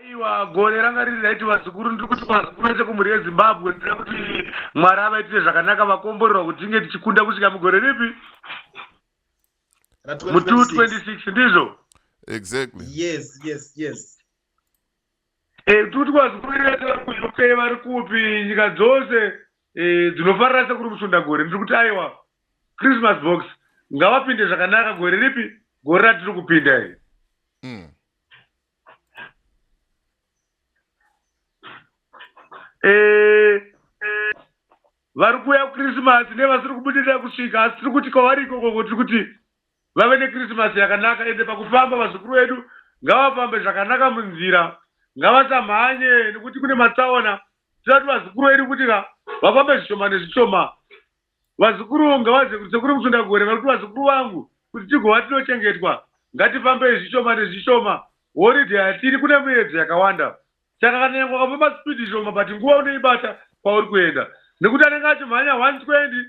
aiwa gore ranga riri raiti vazukuru ndiri kuti vazukuru vese kumhuri yezimbabwe ndira kuti mwari avaitire zvakanaka vakomborerwa kuti tinge tichikunda kusvika mugore ripi mu 226 ndizvo exactly yes yes yes e, kuti vazukuru vese vari kuuk vari kupi nyika dzose Eh, dzinofarira sekuru musundagore ndiri kuti aiwa christmas box ngavapinde zvakanaka gore ripi gore ratiri kupinda iri mm. eh, vari kuuya kuchrismas nevasiri kubudirira kusvika asi tiri kuti kwavari ikoko tiri kuti vave neKrisimasi yakanaka ende pakufamba vazukuru vedu ngavafambe zvakanaka munzira ngavasamhanye nekuti kune matsaona tinoda kuti vazukuru vedu kuti ka vafambe zvishoma nezvishoma vazukuru ngavazive kuti sekuru musundagore vari kuti vazukuru vangu kuti tigova tinochengetwa ngatifambei zvishoma nezvishoma horidhe hatiri kune muyedzo yakawanda Saka kana nyangwe ukafamba speed shoma but nguva unoibata kwauri kuenda nekuti anenge achimhanya 120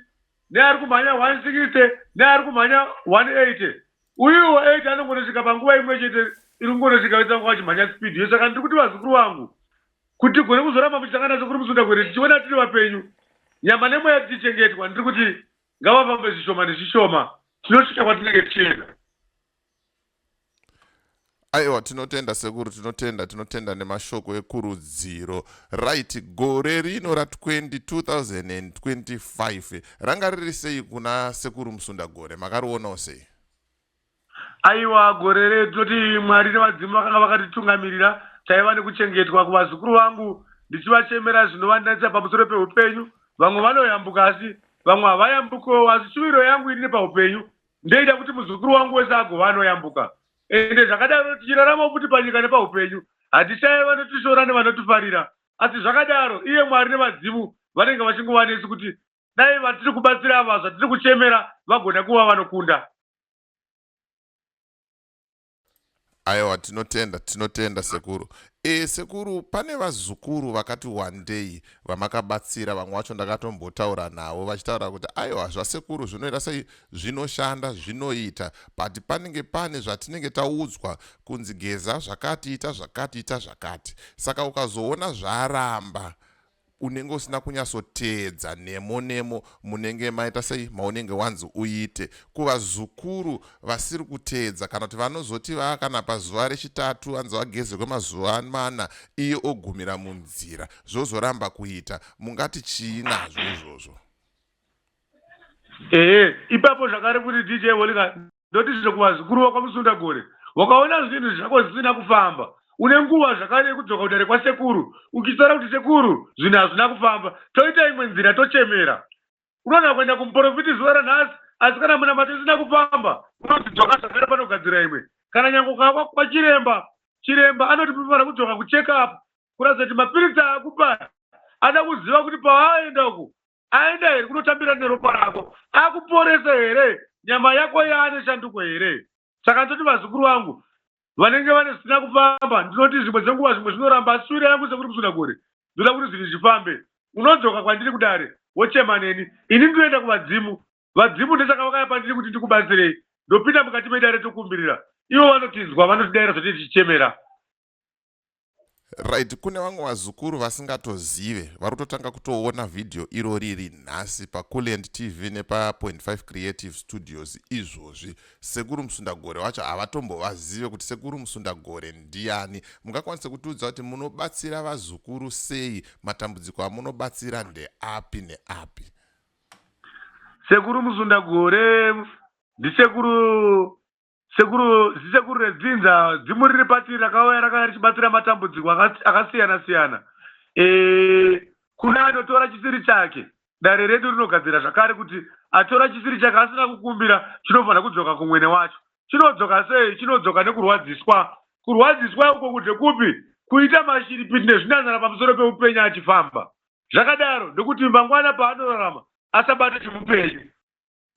neari kumhanya 160 neari kumhanya 180 uyuwo 8 anongonosvika panguva imwe chete iri kungonosvika vese vanga vachimhanya speed yo saka ndiri kuti vazukuru vangu kuti tigone kuzoramba muchitanga naso kuri musunda kwere tichiona tiri vapenyu nyama nemweya tichichengetwa ndiri kuti ngavafambe zvishoma nezvishoma tinosvika kwatinenge tichienda aiwa tinotenda sekuru tinotenda tinotenda nemashoko ekurudziro right gore rino ra 2025 ranga riri sei kuna sekuru musunda gore makarionawo sei aiwa gore re tinoti mwari nevadzimu vakanga vakatitungamirira taiva nekuchengetwa kuvazukuru vangu ndichivachemera zvinovandanisa pamusoro peupenyu vamwe vanoyambuka asi vamwe havayambukewo asi shuviro yangu ini nepaupenyu ndoita kuti muzukuru wangu wese agova anoyambuka ende zvakadaro tichirarama futi panyika nepaupenyu hatishaye vanotishora nevanotifarira asi zvakadaro iye mwari nevadzimu vanenge vachingova nesu kuti dai vatiri kubatsira ava zvatiri kuchemera vagona kuva vanokunda aiwa tinotenda tinotenda sekuru e, sekuru pane vazukuru vakati wandei vamakabatsira vamwe wacho ndakatombotaura navo vachitaura kuti aiwa zvasekuru zvinoita sei zvinoshanda zvinoita but panenge pane zvatinenge taudzwa kunzi geza zvakati ita zvakati ita zvakati saka ukazoona zvaramba unenge usina kunyatsoteedza nemo nemo munenge maita sei maunenge wanzi uite kuvazukuru vasiri kuteedza kana kuti vanozoti vaa kana pazuva rechitatu anzi vagezerwe mazuva mana iye ogumira munzira zvozoramba kuita mungati chii nazvo izvozvo ehe ipapo zvakare kuti dj holika ndoti zvino kuvazukuru vakwamusundagore wakaona zvinhu zvako zvisina kufamba une nguva zvakare yekudzoka kudare kwasekuru uchitaura kuti sekuru zvinhu hazvina kufamba toita imwe nzira tochemera unogona kuenda kumuporofiti zuva ranhasi asi kana munamato isina kufamba unoti dzoka zvakare panogadzira imwe kana nyange ukava kwachiremba chiremba anoti munofanira kudzoka kucheckup kuratidza kuti mapiritsi akupa ada kuziva kuti paaenda uku aenda here kunotambira neropa rako akuporese here nyama yako yaane shanduko here saka ndoti vazukuru vangu vanenge vane zvisina kufamba ndinoti zvimwe dzenguva zvimwe zvinoramba asi sure yangu sekuri kusuna gore ndoda kuti zvinhu zvifambe unodzoka kwandiri kudare wochema neni ini ndinoenda kuvadzimu vadzimu ndesaka vakaya pandiri kuti ndikubatsirei ndopinda mukati medare tokumbirira ivo vanotinzwa vanotidaira zvotichichemera right kune vamwe vazukuru vasingatozive vari kutotanga kutoona vhidhiyo iro riri nhasi paculiant tv nepa25 creative studios izvozvi sekuru musundagore wacho havatombovazive kuti sekuru musundagore ndiyani mungakwanise kutiudza kuti munobatsira vazukuru sei matambudziko amunobatsira ndeapi neapi sekuru musundagore ndisekuru Sekuru, zisekuru redzinza, dzimu riri pati rakauya rakauya richibatsira matambudziko akas- akasiyana siyana. Eh, kune anotora chisiri chake. Dare redu rinogadzira zvakare kuti atora chisiri chake asina kukumbira chinofanira kudzoka kumwene wacho. Chinodzoka sei? Chinodzoka nekurwadziswa. Kurwadziswa uko kuti kupi? Kuita mashiripiti nezvinanzara pamusoro peupenyu achifamba. Zvakadaro ndokuti mangwana paanorarama asabate chimupenyu.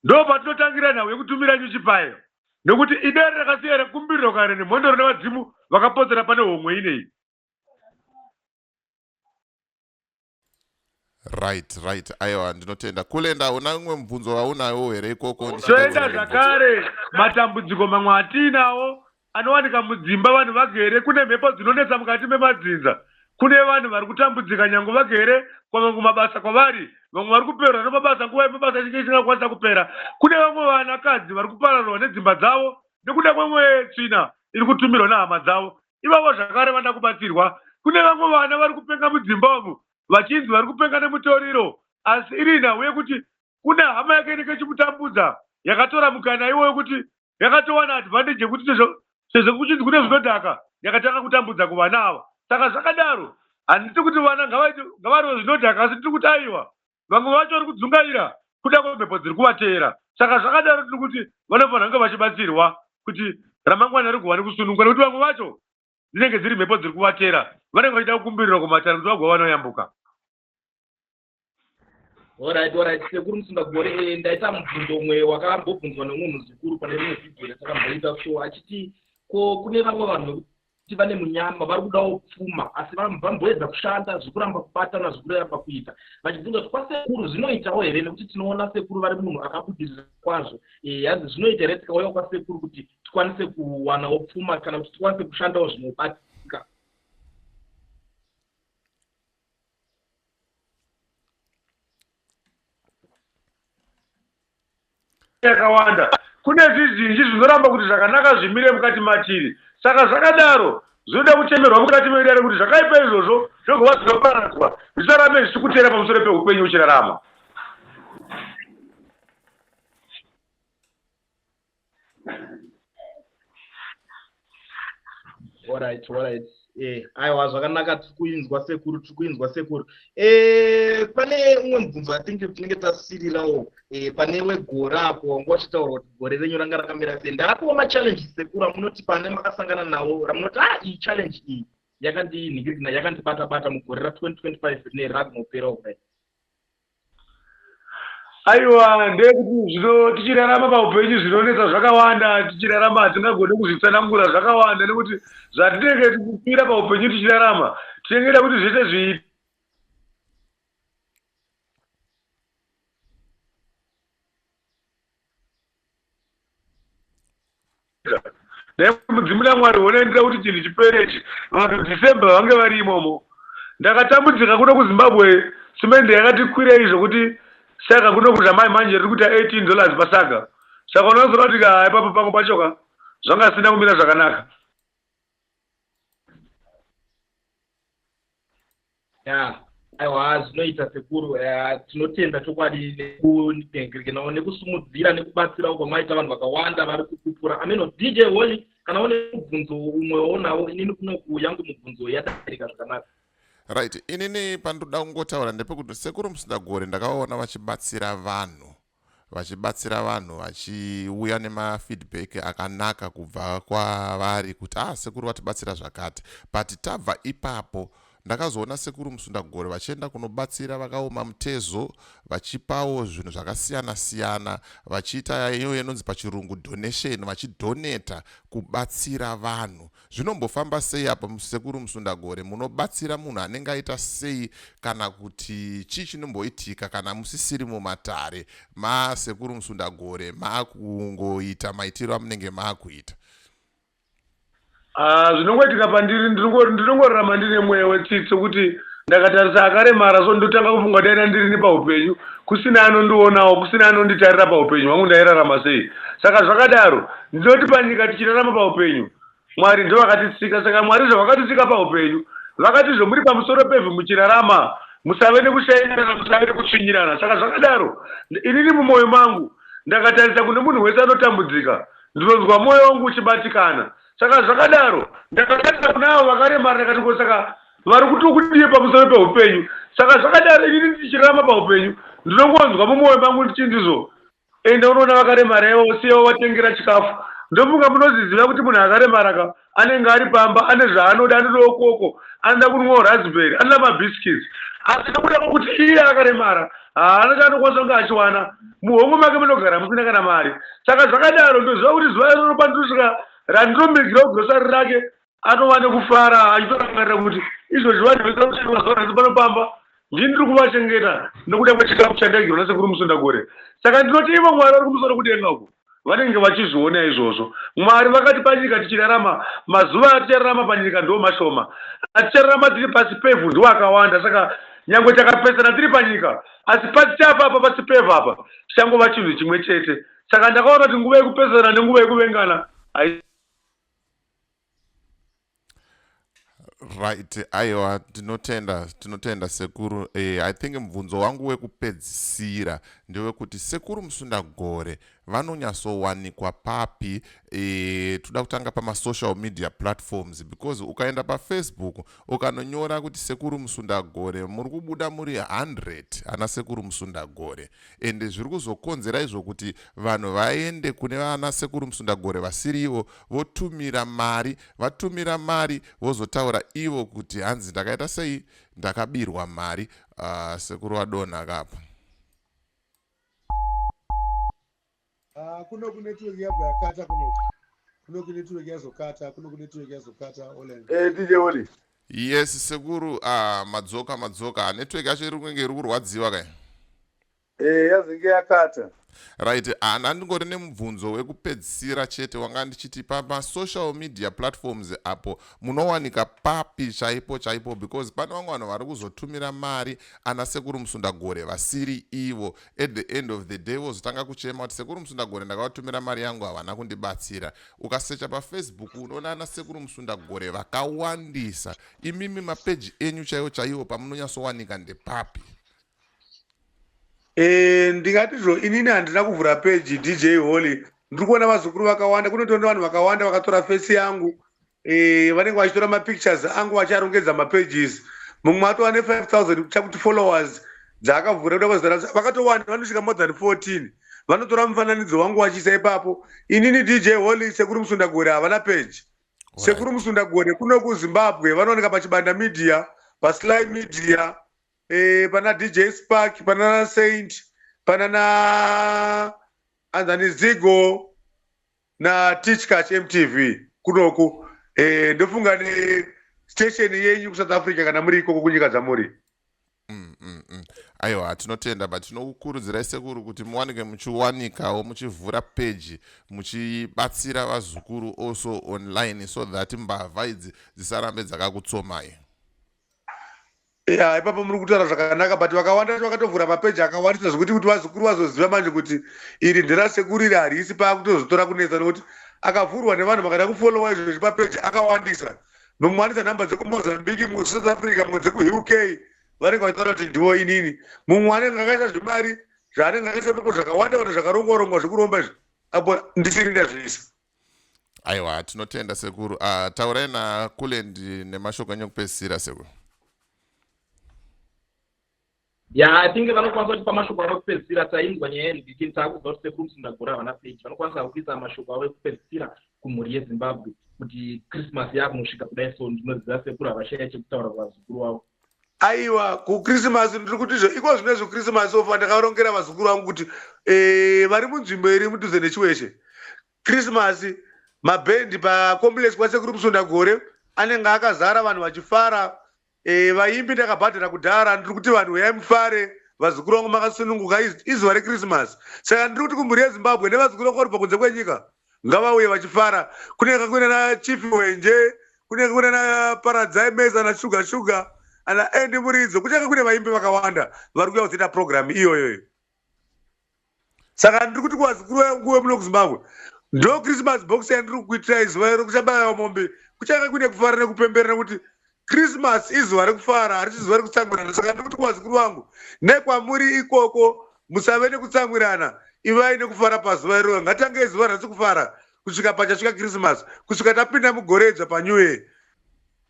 ndo patinotangira nhau yekutumira nyuchi payo nekuti idare rakasiya rekumbiriro kare nemhondoro nevadzimu vakapotsera pane homwe inei right right aiwa ndinotenda kulenda una umwe mubvunzo waunayo here ikoko zvoenda zvakare matambudziko mamwe atiinawo Anowanika mudzimba vanhu vagere, kune mhepo dzinonetsa mukati memadzinza, kune vanhu vari kutambudzika nyangu vagere kwamwe kumabasa kwavari, vamwe vari kupererwa nemabasa nguva yemabasa ichinge isingakwanisa kupera, kune vamwe vanakadzi vari kupararwa nedzimba dzavo nekuda kwemwe tsvina iri kutumirwa nehama dzavo, ivavo zvakare vanoda kubatsirwa, kune vamwe vana vari kupenga mudzimba umu vachinzi vari kupenga nemutoriro asi iri nhau yekuti kune hama yake inenge ichimutambudza yakatora mukana iwoyo kuti yakatowana advantage yekuti sezvo sezvo kuchinzi kune zvinodhaka yakatanga kutambudza kuvana ava saka zvakadaro handiti kuti vana ngavaite ngavarwe zvinodhaka asi tiri kuti aiwa vamwe vacho vari kudzungaira kuda kwemhepo dziri kuvateera saka zvakadaro tiri kuti vanofanira kunge vachibatsirwa kuti ramangwana rigovane kusununguka nekuti vamwe vacho dzinenge dziri mhepo dziri kuvatera vanenge vachida kukumbirirwa kumatare kuti vagova vanoyambuka Alright, alright, sekuru musingagore eh, ndaita mubvunzo umwe wakambobvunzwa nemunhu zukuru pane rimwe vhidhiyo yatakamboita so achiti ko kune vamwe vanhu vekuti vane munyama vari kudawo pfuma asi vamboedza kushanda zvekuramba kubatana zvekureva pakuita vachibvunza kuti kwasekuru zvinoitawo here nekuti tinoona sekuru vari munhu akabudirira kwazvo eh, hanzi zvinoita here tikauya kwasekuru kuti tikwanise kuwanawo pfuma kana kuti tikwanise kushandawo zvinobatika yakawanda kune zvizhinji zvinoramba kuti zvakanaka zvimire mukati matiri saka zvakadaro zvinoda kuchemerwa mukati meidare kuti zvakaipa izvozvo zvogova zvinoparadzwa zvisarambe zvichikuteera pamusoro peupenyu uchirarama Alright, alright. Eh, aiwa zvakanaka tiri kuinzwa sekuru tiri kuinzwa sekuru eh, pane umwe mubvunzo i think tinenge tasirirawo eh, pane wegore apo wanga wachitaura kuti gore renyu ranga rakamira sei ndarapiwa machallenges sekuru amunoti pane makasangana nawo ramunoti ah iyi challenge iyi yakandinhikirikina yakandibata bata mugore ra 2025 rine rakunopera kudai Aiwa ndeyekuti zvino tichirarama paupenyu zvinonetsa zvakawanda tichirarama hatingagone kuzvitsanangura zvakawanda nekuti zvatinenge tichipira paupenyu tichirarama tinenge da kuti zvese zviite dai mudzimu namwari hona ndida kuti chinhu chipere ichi vanhu december vange vari imomo ndakatambudzika kuno kuzimbabwe simende yakati kwirei zvokuti saka kuno kuzhamai manje riri kuita 18 dollars pasaga saka unozoda kuti ka ipapo pangu pachoka zvanga sina kumira zvakanaka Yeah. aiwa zvinoita sekuru eh, tinotenda chokwadi nekudengerekanawo nekusumudzira nekubatsirawo kwamaita vanhu vakawanda vari kukupura ameno dj holy kana une mubvunzo umwe waunawo inini kunoku yangu mubvunzo yadairika zvakanaka right inini pandoda kungotaura ndepekuti sekuru musindagore ndakavaona vachibatsira vanhu vachibatsira vanhu vachiuya nemafeedback akanaka kubva kwavari kuti ah sekuru vatibatsira zvakati but tabva ipapo ndakazoona sekuru musundagore vachienda kunobatsira vakaoma mutezo vachipawo zvinhu zvakasiyana siyana vachiita iyo inonzi pachirungu donation vachidhoneta kubatsira vanhu Zvinombofamba sei apa musekuru Musundagore munobatsira munhu anenge aita sei kana kuti chii chinomboitika kana musisiri mumatare masekuru Musundagore makungoita maitiro amunenge makuita ah, zvinongoitika pandiri ndinongorarama ndine mweya wetsitsi kuti Ndakatarisa akaremara so ndotanga kufunga kuti aida ndirini paupenyu kusina anondionawo kusina anonditarira paupenyu hwangu ndairarama sei saka zvakadaro ndinoti panyika tichirarama paupenyu Mwari ndovakatisika saka Mwari zvavakatisika paupenyu vakatizve muri pamusoro pevhu muchirarama musave nekushairana musave nekutsvinyirana saka zvakadaro inini mumwoyo mangu ndakatarisa kune munhu wese anotambudzika ndinonzwa mwoyo wangu uchibatikana saka zvakadaro ndakatarisa kuna avo vakaremara ndakati ko saka Mwari kuti ukudie pamusoro pehupenyu saka zvakadaro inini ndichirarama pahupenyu ndinongonzwa mumoyo mangu ndichinzi zvo enda unoona vakaremara ivo usiye wovatengera chikafu ndofunga munozviziva kuti munhu akaremara ka anenge ari pamba ane zvaanoda anodawo koko anoda kunwawo raspberry anoda mabiscuits asi nekuda kwekuti iye akaremara haana chaanokwanisa kunge achiwana muhomwe make munogara musina kana mari saka zvakadaro ndoziva kuti zuva iroro pandosvika randinomirigira kugrosari rake anova nekufara achitorangarira kuti izvozvi vanhu vekamuteni mazuva nhasi pano pamba ndini ndiri kuvachengeta nokuda kwechikafu chandaigirwa nasekuru musundagore saka ndinoti ivo mwari vari kumusoro kudenga uko vanenge vachizviona izvozvo mwari vakati panyika tichirarama mazuva atichararama panyika ndo mashoma atichararama tiri pasi pevhu ndiwo akawanda saka nyangwe takapesana tiri panyika asi pasi chapa apa pasi pevhu apa tichangova chinhu chimwe chete saka ndakaona kuti nguva yekupesana nenguva yekuvengana right aiwa tinotenda tinotenda sekuru eh, i think mubvunzo wangu wekupedzisira ndewekuti sekuru musundagore vanonyatsowanikwa papi eh, toda kutanga pamasocial media platforms because ukaenda pafacebook ukanonyora kuti sekuru musundagore muri kubuda muri 100 ana sekuru musundagore ende zviri kuzokonzera izvo kuti vanhu vaende kune vana sekuru musundagore vasiri ivo votumira mari vatumira mari vozotaura ivo kuti hanzi ndakaita sei ndakabirwa mari uh, sekuru vadonha kapa Ah, kuno kune tuweki yabva yakata kuno kuno kune tuweki yazokata kuno kune tuweki yazokata olen Eh, DJ Oli. yes sekuru ah, madzoka madzoka network yacho iri kunge iri kurwadziwa kai Eh, yazenge yakata. right ah, ndandingori nemubvunzo wekupedzisira chete wanga ndichiti pamasocial media platforms apo munowanika papi chaipo chaipo because pane vamwe vanhu vari kuzotumira mari ana sekuru musundagore vasiri ivo at the end of the day vozotanga kuchema kuti sekuru musundagore ndakavatumira mari yangu havana kundibatsira ukasecha pafacebook unoona ana sekuru musundagore vakawandisa imimi mapeji enyu chaiwo chaiwo pamunonyatsowanika ndepapi eh, ndingatizvo inini handina kuvhura peji dj holy ndiri kuona vazukuru vakawanda kunotoona vanhu vakawanda vakatora fesi yangu Eh, vanenge vachitora mapictures angu vacharongedza mapages mumwe atova ne5000 chakuti followers dzaakavhura kuda kwazara vakatowanda vanosvika more than 14 vanotora mufananidzo wangu vachiisa ipapo inini dj holy sekuru musundagore havana page sekuru musundagore kuno kuzimbabwe vanooneka pachibanda media pasly media eh, pana dj spark panana saint panana anzani zigo natichkach mtv kunoku eh, ndofunga ne station yenyu kusouth africa kana muri ikoko kunyika dzamuri mm, mm, mm. aiwa tinotenda but tinokukurudzirai sekuru kuti muwanike muchiwanikawo muchivhura peji muchibatsira vazukuru also online so that mbavha idzi dzisarambe dzakakutsomai ya ipapo muri kutaura zvakanaka but vakawanda vacho vakatovhura mapeji akawandisa zvekuti kuti vazukuru vazoziva manje kuti iri nderasekuru iri harisi paakutozotora kunetsa nokuti akavhurwa nevanhu vakada kufollowa izvo zvepa peji akawandisa nomwanisa nhamba dzekumozambique musouth africa mwe dzekuuk vanenge vachitaura kuti ndivo inini mumwe anenge akaisa zvemari zvaanenge akaisa pepo zvakawanda kana zvakarongwarongwa zvekuromba izvi apo ndisiri ndazviisa aiwa tinotenda sekuru uh, taurai nakulend nemashoko enyu ekupedzisira sekuru ya i think vanokwanisa kutipa mashoko avo ekupedzisira tainzwa nyaya yeridikin taakuziva kuti sekuru musindagura havana peji vanokwanisa kuisa mashoko avo ekupedzisira kumhuri yezimbabwe kuti christmas yaakunosvika kudai so ndinoziva sekuru havashaya chekutaura kuvazukuru wavo aiwa kukrisimasi ndiri kuti izvo iko zvine zvokrisimasi ofa ndakarongera vazukuru vangu kuti eh, vari munzvimbo iri mudhuze nechiweshe krisimasi mabhendi pacomplex kwasekuru musunda gore anenge akazara vanhu vachifara eh, vaimbi ndakabhadhara kudhara ndiri kuti vanhu huyai mufare vazukuru vangu makasununguka izuva rekrisimasi saka ndiri kuti kumhuri yezimbabwe nevazukuru vangu vari pakunze kwenyika ngavauye vachifara kunenge kakuna na chief wenje kunenge kakuna na paradzai mesa na sugar sugar ana endi muridzo kunenge kakuna vaimbi vakawanda vari kuya kuzoita program iyoyoyo saka ndiri kuti kuvazukuru vanguve muno kuzimbabwe ndo christmas box yandiri kukuitirai zuva iro kuchabayawa mombe kuchanga kune kufara nekupembera nekuti Christmas izuva rekufara harisi zuva rekutsamwirana saka ndiri kuti kuvazukuru vangu nekwamuri ikoko musave nekutsamwirana ivai nekufara pazuva iroro ngatitange izuva ranhasi kufara kusvika pachasvika Christmas kusvika tapinda mugore idzva panew year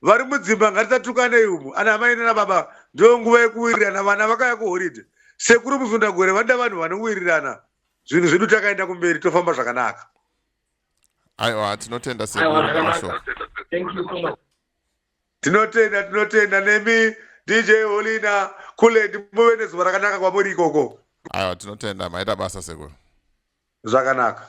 vari mudzimba ngatitatukanei umu ana amai nana baba ndiyo nguva yekuwirirana vana vakaya kuhoride sekuru musundagore vanoda vanhu vanowirirana zvinhu zvedu takaenda kumberi tofamba zvakanaka aiwa tinotenda sekuru mashoko tinotenda tinotenda nemi dj holina kulend muve nezuva rakanaka kwamuri ikoko aiwa tinotenda maita basa sekuru zvakanaka